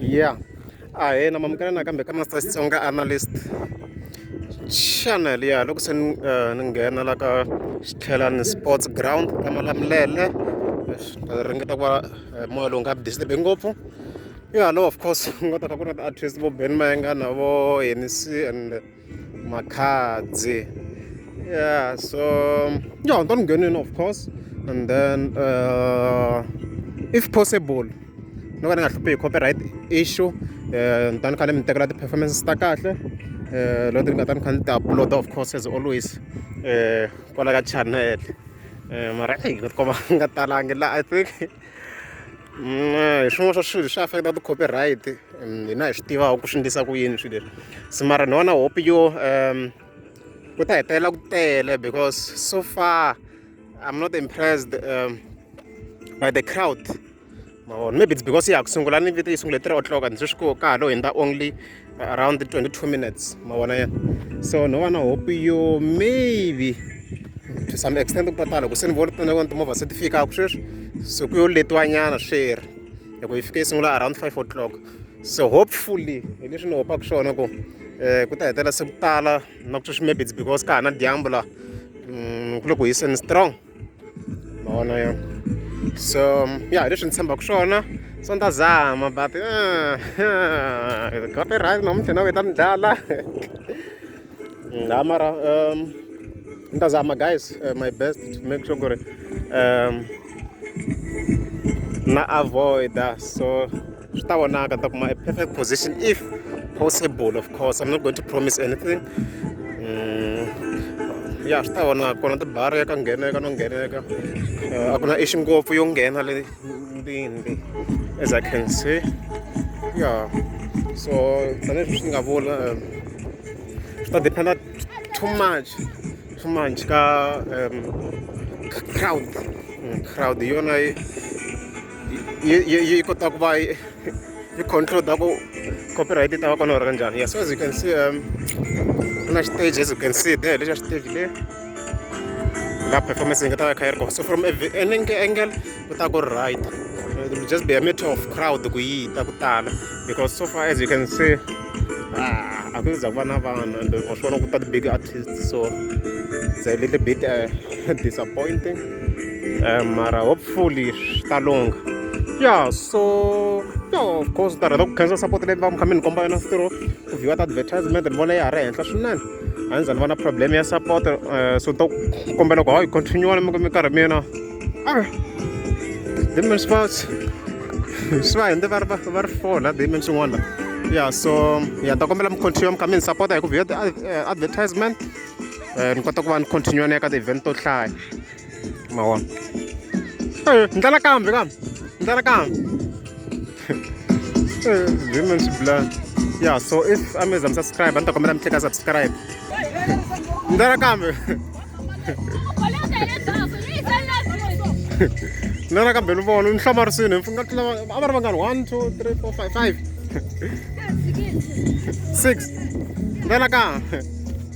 yeah a hi na mamukela nakambe ka master xitsonga analyst channel ya loko se ni eh, ni nghena la ka xitlhelani sports ground ka malamulele ringeta ku va eh, moya lowu nga disturbe ngopfu yo hallow of course ku nga ta kha ku ri na ti-artist vo ben mayengana vo henisi and Makhadzi. Yeah, so yeah, don't get in of course. And then uh, if possible, no kana ngahluphe hi copyright issue eh ni ta ni khale mi tekela ti-performances ta kahle eh loko ti nga ta ni kha ni ti upload of course as always eh kwala ka channel eh mara eyi ni nga tikomba nga talangi la i think hi swin'wana swa swilo swi affect-a ti-copyright hina hi swi tivaka ku swi endlisa ku yini swilo leswi se mara ni vona hope yo um ku ta hetelela ku tele because so far i'm not impressed um, by the crowd mavona maybe it's because ya ha ku sungula ni vito yi sungule three o'clock and sweswi ko ka ha lo hundza only around 22 minutes ma vona yena so no va na hope yo maybe to some extent ku patala loko se ni vona tona vona timovha se ti fikaka sweswi so ku yo letiwanyana sweri loko yi fike yi sungula around five o'clock so hopefully hi leswi ni hopaka swona ku um ku ta hetelela se ku tala na ku sweswi maybe it's because ka ha na dyambu laha mm, ku le ku hiseni strong ma vona yo so ya hi leswi ni tshembaka swona so ni ta zama but got it right namuntlha na ku ta ni dlala la mara um ni ta zama guys uh, my best to make sure ku ri um na avoida so swi ta vonaka ni ta kuma a perfect position if possible of course i'm not going to promise anything mm, ya swi ta vonaka kona tibari ya ka ngheneka no ngheneka eh, a ku na ixi ngopfu yo nghena le ndini as i can see ya so tanihileswi swi nga vula eh, swi ta dependa too much too much ka um, crowd mm, crowd yona yi yi yi kota ku va yi yi controla ku copyright yi ta va kona or njhani yes as you can see um ku na stage as you can see there lexa stage le la performance yi nga ta va kha yi ri kona so from an angle ku ta ku right it will just be a matter of crowd ku yi ta ku tala because so far as you can see a ku za ku va na vanhu and wa swi vona ku ta ti-big artists so it's a little bit uh, disappointing um, mara hopefully swi ta lungha ya so yo course ta rhandza ku khensa support leyi va mi kha mi ni komba yona switirho ku vhiwa ta advertisement ni vona ya ha ri henhla swinene a ni za ni va na problem ya support eh, so to kombela ku hayi continue mi mi karhi mina demon sports swi va hende va ri va ri four la demon swin'wana ya so ya ta kombela mi continue mi kha mi ni support hi ku vhiwa ti eh, advertisement um ni kota ku va ni continue na eka ti-event to hlaya ma vona ni ndlela kambe kambe ni ndlela kambe women to blood yeah so if i mean i'm subscribe a ni ta kombela mi tleka subscribe ni ndlela kambe ni ndlela kambe ni vona ni hlamarisini ni nga tlula a va ri vangani one two three four five five six ndlela kambe